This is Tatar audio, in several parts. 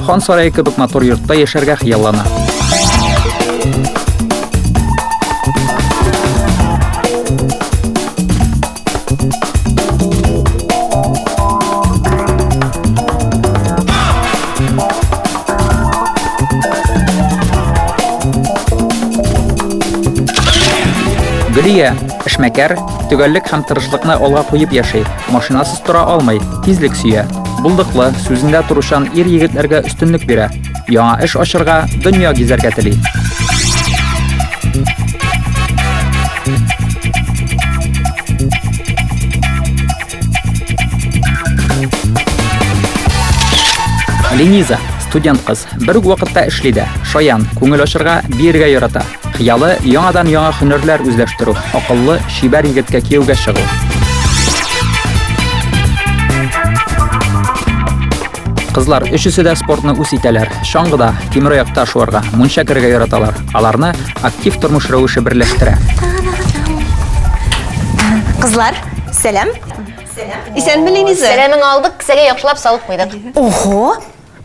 Хан сарае кебек матур йортта яшәргә хыяллана. Гөлия, эшмәкәр, төгәллек һәм тырышлыкны алга куеп яши, машинасыз тора алмый, тизлек сөя. Булдыклы, сүзендә торучан ир-егетләргә өстенлек бирә. Яңа эш ачырга, дөнья гизәргә тели. Лениза, студент кыз, бер үк вакытта эшли дә, шаян, күңел ачырга, биергә ярата. Хыялы, яңадан яңа һөнәрләр үзләштерү, акыллы, чибәр егеткә кияүгә чыгу. Кызлар өчесе дә спортны үз итәләр. Чаңгыда, тимер аякта шуарга, мунча керергә яраталар. Аларны актив тормыш рәвеше берләштерә. Кызлар, сәлам. Исәнме, Лениза? Сәламең алдык, кесәгә яхшылап салып куйдык. Ого!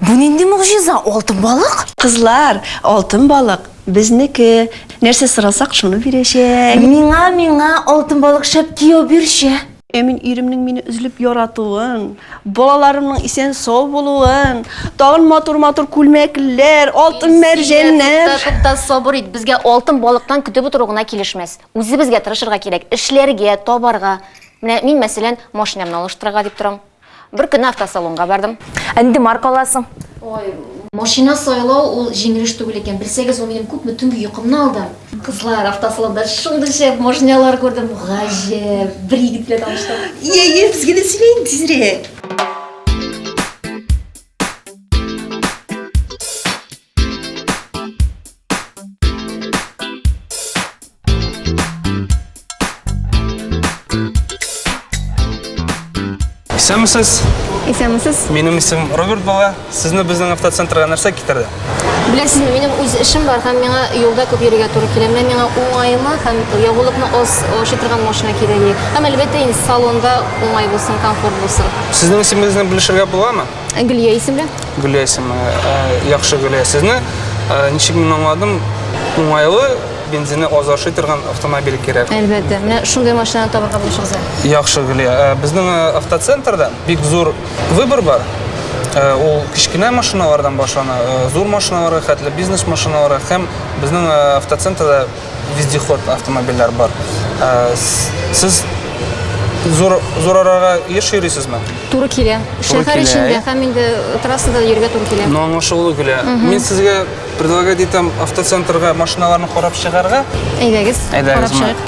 Бу нинди могҗиза, алтын балык? Кызлар, алтын балык, безнеке. Нәрсә сорасак, шуны бирәчәк. Миңа, миңа алтын балык шәп кияү бирче. Ә мин иремнең мине өзлеп яратуын, балаларымның исән-сау булуын, тагын матур-матур күлмәкләр, алтын мәрҗәннәр. Тукта, тукта, сабыр ит. Безгә алтын балыктан көтеп утыру гына килешмәс. Үзебезгә тырышырга кирәк, эшләргә, табарга. Менә мин, мәсәлән, машинамны алыштырырга дип торам. Бер көнне автосалонга бардым. Ә нинди марка аласың? Ой, машина сайлау ул җиңел эш түгел икән. Белсәгез, ул минем күпме төнге йокымны алды. Кызлар, автосалонда шундый шәп машиналар күрдем, гаҗәп. Бер егет белән таныштым. Йә, йә, безгә дә сөйлә инде тизрәк. Исәнмесез? Исәнмесез. Минем исем Роберт була. Сезне безнең автоцентрга нәрсә китерде? Беләсезме, минем үз эшем бар һәм миңа юлда күп йөрергә туры килә. Менә миңа уңайлы һәм ягулыкны аз аши торган машина кирәк. Һәм әлбәттә инде салонда уңай булсын, комфорт булсын. Сезнең исемегезне белешергә буламы? Ә Гөлия исемле? Гөлия исемле. Ә, яхшы Гөлия. Сезне ә, ничек мин аңладым? Уңайлы бензины аз ашый торган автомобиль кирәк. Әлбәттә. Менә шундый машинаны табарга булышыгыз. Яхшы Гөлия. Ә, безнең ә, автоцентрда бик зур выбор бар. Ә, ул кечкенә машиналардан башлана, ә, зур машиналарга хәтле бизнес машиналары һәм безнең ә, автоцентрда вездеход автомобильләр бар. Ә, сез зур, зур арага еш йөрисезме? Туры килә. Шәһәр эчендә һәм инде трассада йөргә туры килә. Но аңа шулы килә. Мин сезгә предлагать итәм автоцентрга машиналарны карап чыгарга. Әйдәгез, карап чыгыйк.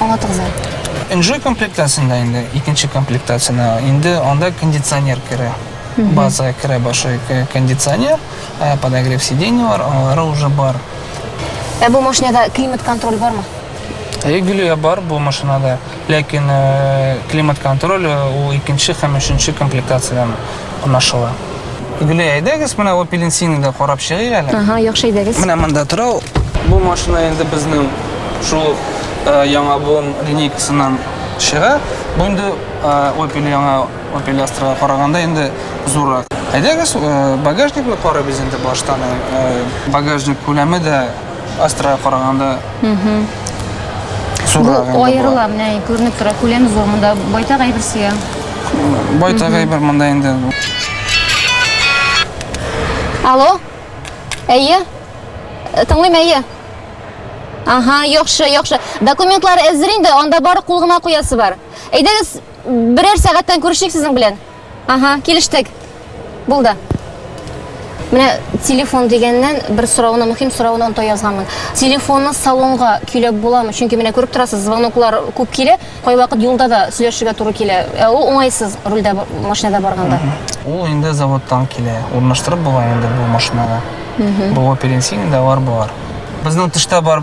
Аңлатыгыз әле. Энҗе комплектациясендә инде, икенче комплектациясендә инде анда кондиционер керә. Базага керә башлый кондиционер, ә подогрев сидений бар, алары уже бар. Ә бу машинада климат-контроль бармы? Әйе, Гөлия, бар бу машинада. Ләкин климат-контроль ул икенче һәм өченче комплектациядән. кунашыла. Гөлия, әйдәгез, менә Опелинсины да карап чыгыйк әле. Ага, яхшы әйдәгез. Менә монда тора ул. Бу машина инде безнең шул э, яңа буын линейкасыннан чыга. Бу инде э, Opel яңа Opel Astra-га караганда инде зуррак. Әйдәгез, э, багажникны карыйбыз инде баштан. Багажник күләме дә Астрага караганда зуррак инде Бу була. аерыла, менә күренеп тора, күләм зур, монда байтак әйбер сыя. Байтак әйбер монда инде. Алло? Әйе? Э, Тыңлыйм, әйе. Ага, яхшы, яхшы. Документлар әзер инде, анда бары кул гына куясы бар. Әйдәгез, берәр сәгатьтән күрешик сезнең белән. Ага, килештек. Булды. Менә телефон дигәннән бер сорауны, мөһим сорауны онта язганмын. Телефонны салонга көйләп буламы? Чөнки менә күреп торасыз, звоноклар күп килә, кайвакыт юлда да сөйләшергә туры килә. Ә ул уңайсыз рульдә машинада барганда. Ул инде заводтан килә. Урнаштырып була инде бу машинага. Бу оперенсин дәвар бар. Безнең тышта бар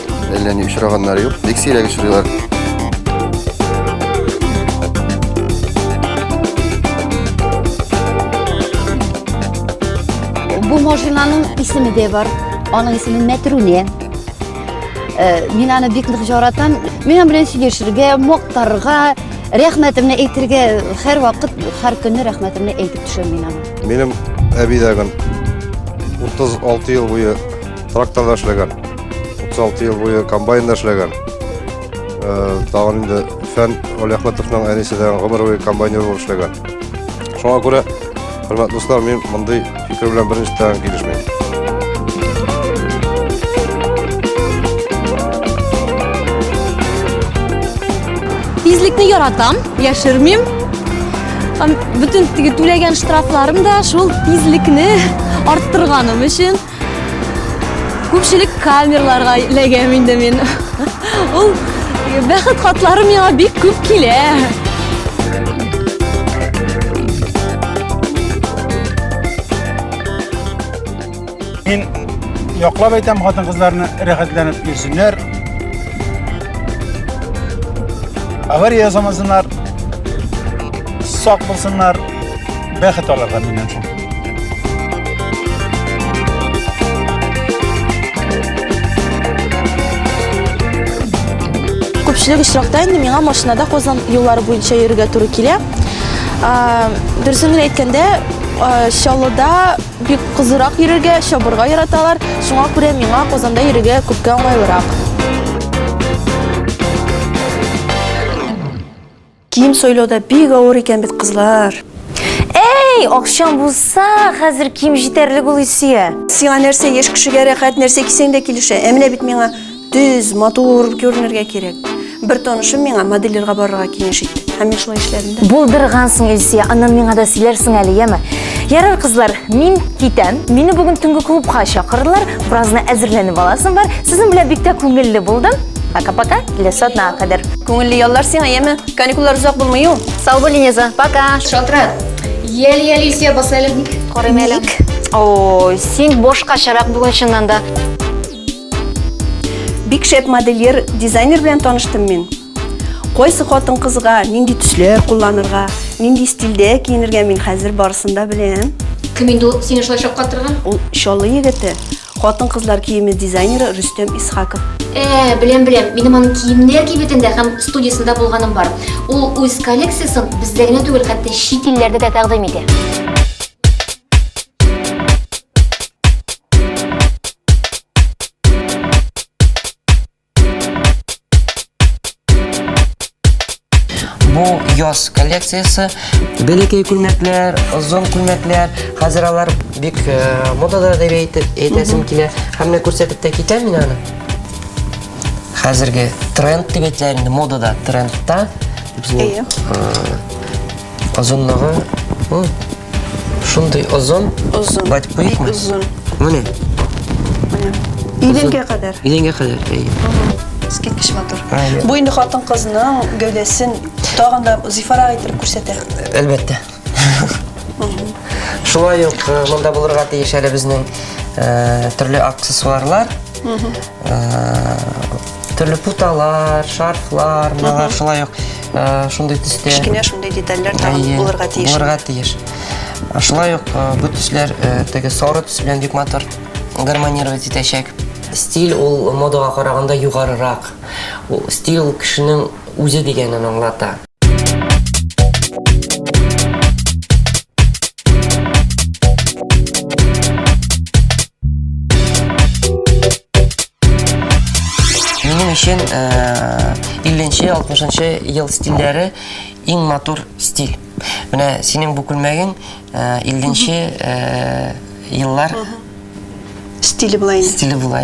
Әллә ни очраганнары юк. Бик сирәк очрыйлар. Бу машинаның исеме дә бар. Аның исеме Мәтрүне. Э, мин аны бик нык яратам. Мин аның белән сөйләшергә, мактарга, рәхмәтемне әйтергә һәр вакыт, һәр көнне рәхмәтемне әйтеп төшәм мин аны. Минем әби дә 36 ел буе тракторда эшләгән. 36 ел буе комбайнда эшләгән. Тагын инде Фән Олехматовның әнисе дә гомер буе комбайнер булып эшләгән. Шуңа күрә, хөрмәтле дуслар, мин мондый фикер белән беренче тагын килешмим. Тизлекне яратам, яшермим. Бүтін түләгән штрафларым да шул тизлекне арттырганым өчен. Күпчелек камерларга ләгәм инде мин. Ул бәхет хатлары миңа бик күп килә. Мин яклап әйтәм хатын кызларны рәхәтләнеп йөрсеннәр. Авария ясамасыннар, сак булсыннар, бәхет аларга миннән соң. Күпчелек очракта инде миңа машинада Казан юллары буенча йөрергә туры килә. Дөресен генә әйткәндә, Чаллыда бик кызырак йөрергә, чабырга яраталар. Шуңа күрә миңа Казанда йөрергә күпкә уңайлырак. Кием сойлау да бик авыр икән бит, кызлар. Әй, акчаң булса, хәзер кием җитәрлек ул Исия. Сиңа нәрсә еш кешегә рәхәт, нәрсә кисәң дә килешә. Ә менә бит миңа төз, матур күренергә кирәк. Бер танышым миңа модельлерга барырга киңәш итте. Һәм мин шулай эшләдем дә. Булдыргансың, Исия, аннан миңа да сөйләрсең әле, яме? Ярар, кызлар, мин китәм. Мине бүген төнге клубка чакырдылар. Беразны әзерләнеп аласың бар. Сезнең белән бик тә күңелле булдым. Пока-пока, киләсе атнага кадәр. Күңелле яллар сиңа, яме. Каникуллар озак булмый ул. Сау бул, Инеза. Пока. Шалтырат. Ял ял исә басалып ник. Карыйм әле. Ой, син бошка чарак бүген чыннан да. Бик шәп модельер, дизайнер белән таныштым мин. Кайсы хатын-кызга нинди төсләр кулланырга, нинди стильдә киенергә мин хәзер барысын да беләм. Кем инде ул сине шулай шаккатырган? Ул Чаллы егете, хатын-кызлар киеме дизайнеры Рөстәм Исхаков. Ә, беләм, беләм. Минем аның киемнәр кибетендә һәм студиясендә булганым бар. Ул үз коллекциясен бездә генә түгел, хәтта чит илләрдә дә тәкъдим итә. Бу яз коллекциясе. Бәләкәй күлмәкләр, озын күлмәкләр, хәзер алар бик э, модада дип әйтеп әйтәсем килә. Һәм менә күрсәтеп тә китәм мин аны. Хәзерге тренд дип әйтәләр инде модада, трендта. Бу, Әйе. э, Озынлыгы ул шундый озын. Озын. Бать куйыкмы? Бик озын. Менә. Менә. Идәнгә кадәр. Идәнгә кадәр. Искиткеч матур. Бу инде хатын-кызның гәүдәсен тагын да зифарак итеп күрсәтә. Әлбәттә. Шулай ук э, монда булырга тиеш әле безнең э, төрле аксессуарлар. Э, төрле путалар, шарфлар, мыналар шулай ук э, шундый төстә. Кечкенә шундый детальләр тагын булырга тиеш. Булырга тиеш. Шулай ук э, бу төсләр э, теге сары төс белән бик матур гармонировать итәчәк. Стиль ул модага караганда югарырак. Ул стиль ул кешенең үзе дигәнен аңлата. Минем өчен 50-60 э, ел стильләре иң матур стиль. Менә синең бу күлмәгең 50 э, э, еллар стиле була инде. Стиле була,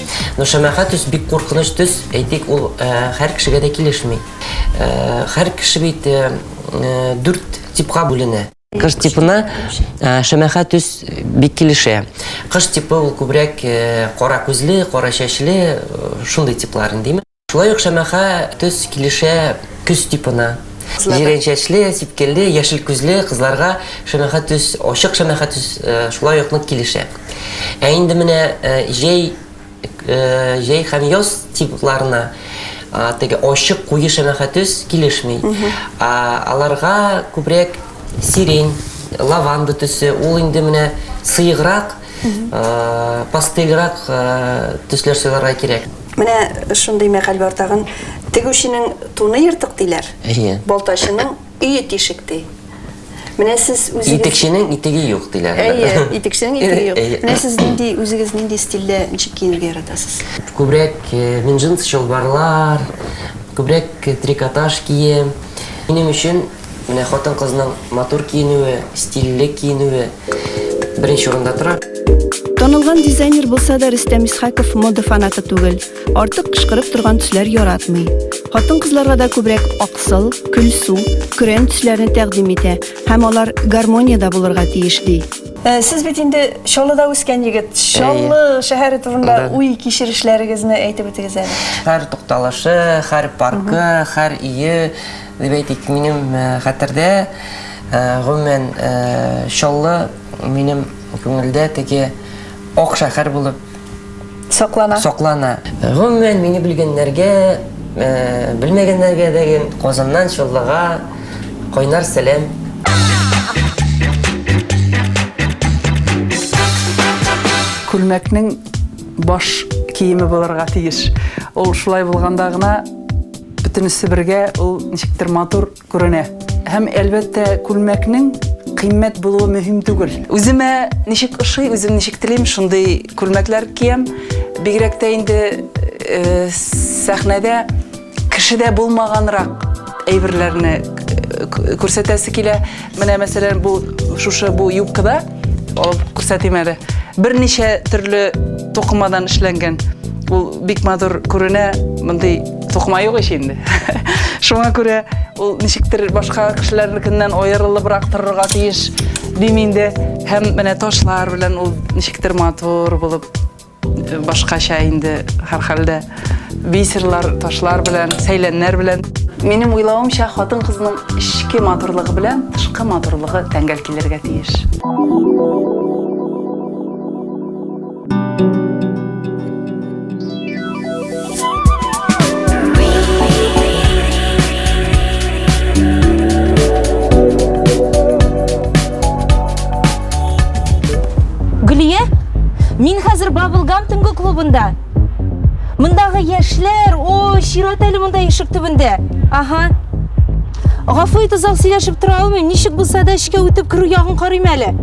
Ну, шәмәхә төс бик куркыныч төс, әйтик, ул һәр кешегә дә килешми. Һәр кеше бит дүрт типка бүленә. Кыш типына шәмәхә төс бик килешә. Кыш типы ул күбрәк кара күзле, кара чәчле, шундый типлар, димме? Шулай ук шәмәхә төс килешә көз типына. Җирәнчәчле, сипкелле, яшел күзле кызларга шәмәхә төс, ачык шәмәхә төс шулай ук нык килешә. Ә инде менә җәй, җәй һәм яз типларына теге ачык, куе шәмәхә төс килешми. Аларга күбрәк сирень, лаванда төсе, ул инде менә сыеграк, пастельрак төсләр сайларга кирәк. Менә шундый мәкаль бар тагын. Тегүченең туны ертык диләр. Әйе. Балтачының өе тишек ди. Менә сез үзегез Итекченең итеге юк диләр. Әйе, итекченең итеге юк. Менә сез нинди үзегез нинди стильдә ничек киенергә яратасыз? Күбрәк э, мин джинс чалбарлар, күбрәк э, трикотаж кием. Минем өчен Менә хатын-кызның матур киенүе, стильле киенүе беренче урында тора. Танылган дизайнер булса да, Рөстәм Исхаков мода фанаты түгел. Артык кычкырып торган төсләр яратмый. Хатын-кызларга да күбрәк аксыл, көлсу, көрән төсләрне тәкъдим итә һәм алар гармониядә булырга тиеш ди. Э, сез бит инде Чаллыда үскән егет. Чаллы шәһәре турында уй кичерешләрегезне әйтеп үтегез әле. Һәр тукталышы, һәр паркы, һәр ие Дип әйтик, минем хәтердә, гомумән, Чаллы минем күңелдә теге ак шәһәр булып саклана. Гомумән, мине белгәннәргә, белмәгәннәргә дә Казаннан Чаллыга кайнар сәлам. Күлмәкнең баш киеме булырга тиеш. Ул шулай булганда гына. Бөтенесе бергә ул ничектер матур күренә. Һәм, әлбәттә, күлмәкнең кыйммәт булуы мөһим түгел. Үземә ничек ошый, үзем ничек телим, шундый күлмәкләр киям. Бигрәк тә инде сәхнәдә кешедә булмаганрак әйберләрне күрсәтәсе килә. Менә мәсәлән бу шушы бу юбкада алып күрсәтим әле. Берничә төрле токымадан эшләнгән. Ул бик матур күренә. Мондый токыма юк ич инде. Шуңа күрә ул ничектер башка кешеләрнекеннән аерылыбрак торырга тиеш дим инде. Һәм менә ташлар белән ул ничектер матур булып Башкача инде һәрхәлдә. Бисерлар, ташлар белән, сәйләннәр белән. Минем уйлавымча, хатын-кызның эчке матурлыгы белән тышкы матурлыгы тәңгәл килергә тиеш. Гөлия, мин хәзер Бабылгам төнгө клубында. Мындагы яшьләр, о, чират әле монда ишек төбендә. Ага. Гафу ит, озак сөйләшеп тора алмыйм. Ничек булса да эчкә үтеп керү ягын карыйм әле.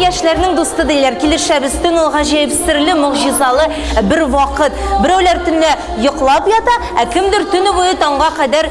яшьләрнең дусты диләр. Килешәбез, төн ул гаҗәеп серле, могҗизалы бер вакыт. Берәүләр төнлә йоклап ята, ә кемдер төне буе таңга кадәр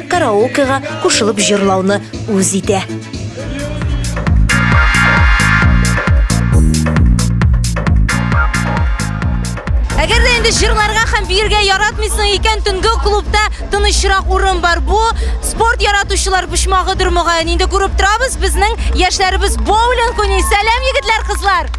караокега кушылып җырлауны үз итә. Әгәр дә инде җырларга һәм биергә яратмыйсың икән, төнге клубта тынычрак урын бар. Бу спорт яратучылар почмагыдыр мөгаен. Инде күреп торабыз, безнең яшьләребез боулинг уйный. Сәлам, егетләр, кызлар!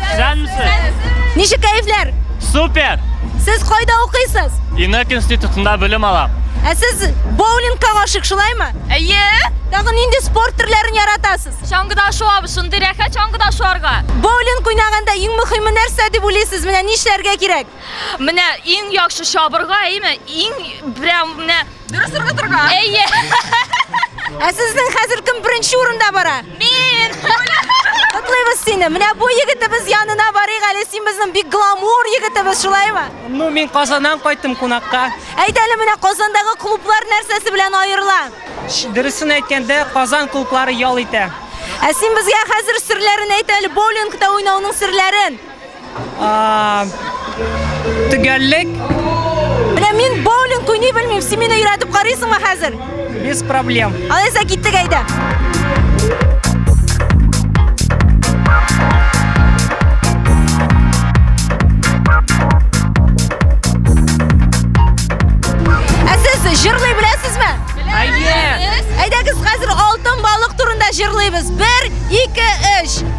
Исәнмесез! Ничек кәефләр? Супер! Сез кайда укыйсыз? Инок институтында белем алам. Ә сез боулингка гашык, шулаймы? Әйе. Тагы нинди спорт төрләрен яратасыз? Чаңгыда шуабы, шундый рәхәт чаңгыда шуарга. Боулинг уйнаганда иң мөһиме нәрсә дип уйлыйсыз? Менә нишләргә кирәк? Менә иң яхшы чабырга, әйеме? Иң прям менә Дөрес торга торга. Әйе. Ә сезнең хәзер кем беренче урында бара? Мин. Котлыйбыз сине. Менә бу егетебез янына барыйк әле. Син безнең бик гламур егетебез, шулаймы? Ну, мин Казаннан кайттым кунакка. Әйт әле менә Казандагы клублар нәрсәсе белән аерыла? Дөресен әйткәндә, Казан клублары ял итә. Ә син безгә хәзер серләрен әйт әле, боулингта уйнауның серләрен. Төгәллек. Менә мин боулинг уйный белмим, син мине өйрәтеп карыйсыңмы хәзер? Без проблем. Алайса киттек әйдә. Ә сез җырлый беләсезме? Әйе. Әйдәгез хәзер алтын балык турында җырлыйбыз. 1 2 3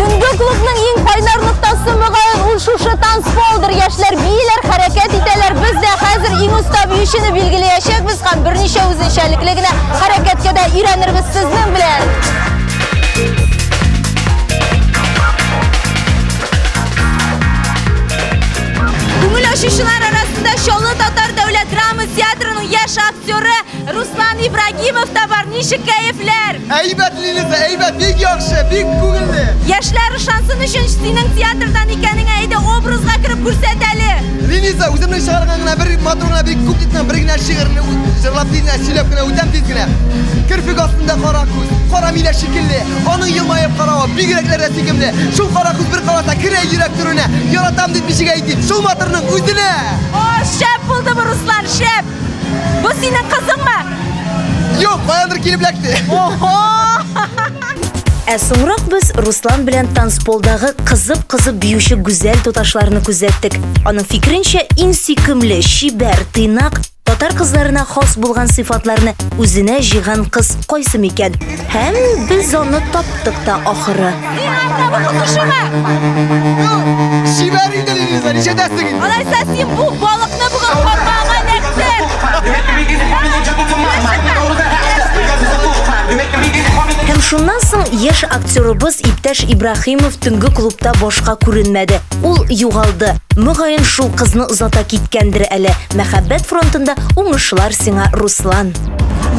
Төнге клубның иң кайнар ноктасы мөгаен ул шушы танцполдыр. Яшьләр бииләр, хәрәкәт итәләр. Без дә хәзер иң оста биючене билгеләячәкбез һәм берничә үзенчәлекле генә хәрәкәткә дә өйрәнербез сезнең белән. Күңел ачучылар арасында Чаллы татар дәүләт драма театрының яшь актеры Руслан Ибрагимов та бар, ничек кәефләр? Әйбәт, Лилит, әйбәт, бик яхшы, бик күңелле. Яшьләр ышансын өчен синең театрдан икәнеңә әйдә образга кереп күрсәт әле. Лилиза, үземнең чыгарган гына бер матур гына бик күп дисәң, бер генә шигырьне җырлап тиз генә сөйләп кенә үтәм тиз генә. Керфек астында кара күз, кара милә шикелле, аның елмаеп каравы бигрәкләрдә сөйкемле. Шул кара күз бер караса керә йөрәк түренә, яратам дип ничек әйтим, шул матурның үзенә! О, шәп булды бу, Руслан, шәп! Бу синең кызыңмы? Юк, каяндыр килеп эләкте. Ого! Ә соңрак без Руслан белән танцполдагы кызып-кызып биюче гүзәл туташларны күзәттек. Аның фикеренчә, иң сөйкемле, чибәр, тыйнак татар кызларына хас булган сыйфатларны үзенә җыйган кыз кайсы микән? Һәм без аны таптык та ахыры. Чибәр инде Лилиза, ничәдәсең инде? Алайса син бу балыкны бүген капкага эләктер. Һәм шуннан соң яшь актерыбыз иптәш Ибраһимов төнге клубта башка күренмәде. Ул югалды. Мөгаен, шул кызны озата киткәндер әле. Мәхәббәт фронтында уңышлар сиңа, Руслан!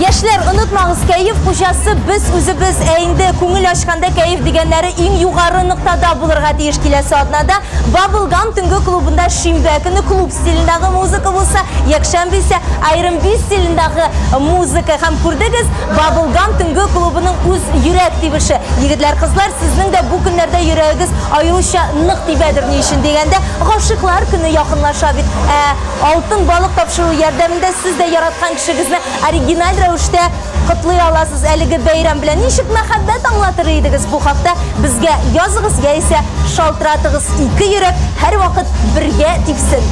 Яшьләр, онытмагыз, кәеф хуҗасы без үзебез. Ә инде күңел ачканда кәеф дигәннәре иң югары ноктада булырга тиеш киләсе атнада. Баблгам төнге клубында шимбә көне клуб стилендагы музыка булса, якшәмбе исә Iron Beast стилендагы музыка. Һәм күрдегез, Баблгам төнге клубының үз йөрәк тибеше. Егетләр, кызлар, сезнең дә бу көннәрдә йөрәгегез аеруча нык тибәдер ни өчен дигәндә, гашыйклар көне якынлаша бит. Ә Алтын балык тапшыру ярдәмендә сез дә яраткан кешегезне оригиналь рәвештә котлый аласыз. Әлеге бәйрәм белән ничек мәхәббәт аңлатыр идегез? Бу хакта безгә языгыз яисә шалтыратыгыз. Ике йөрәк һәрвакыт бергә тибсен!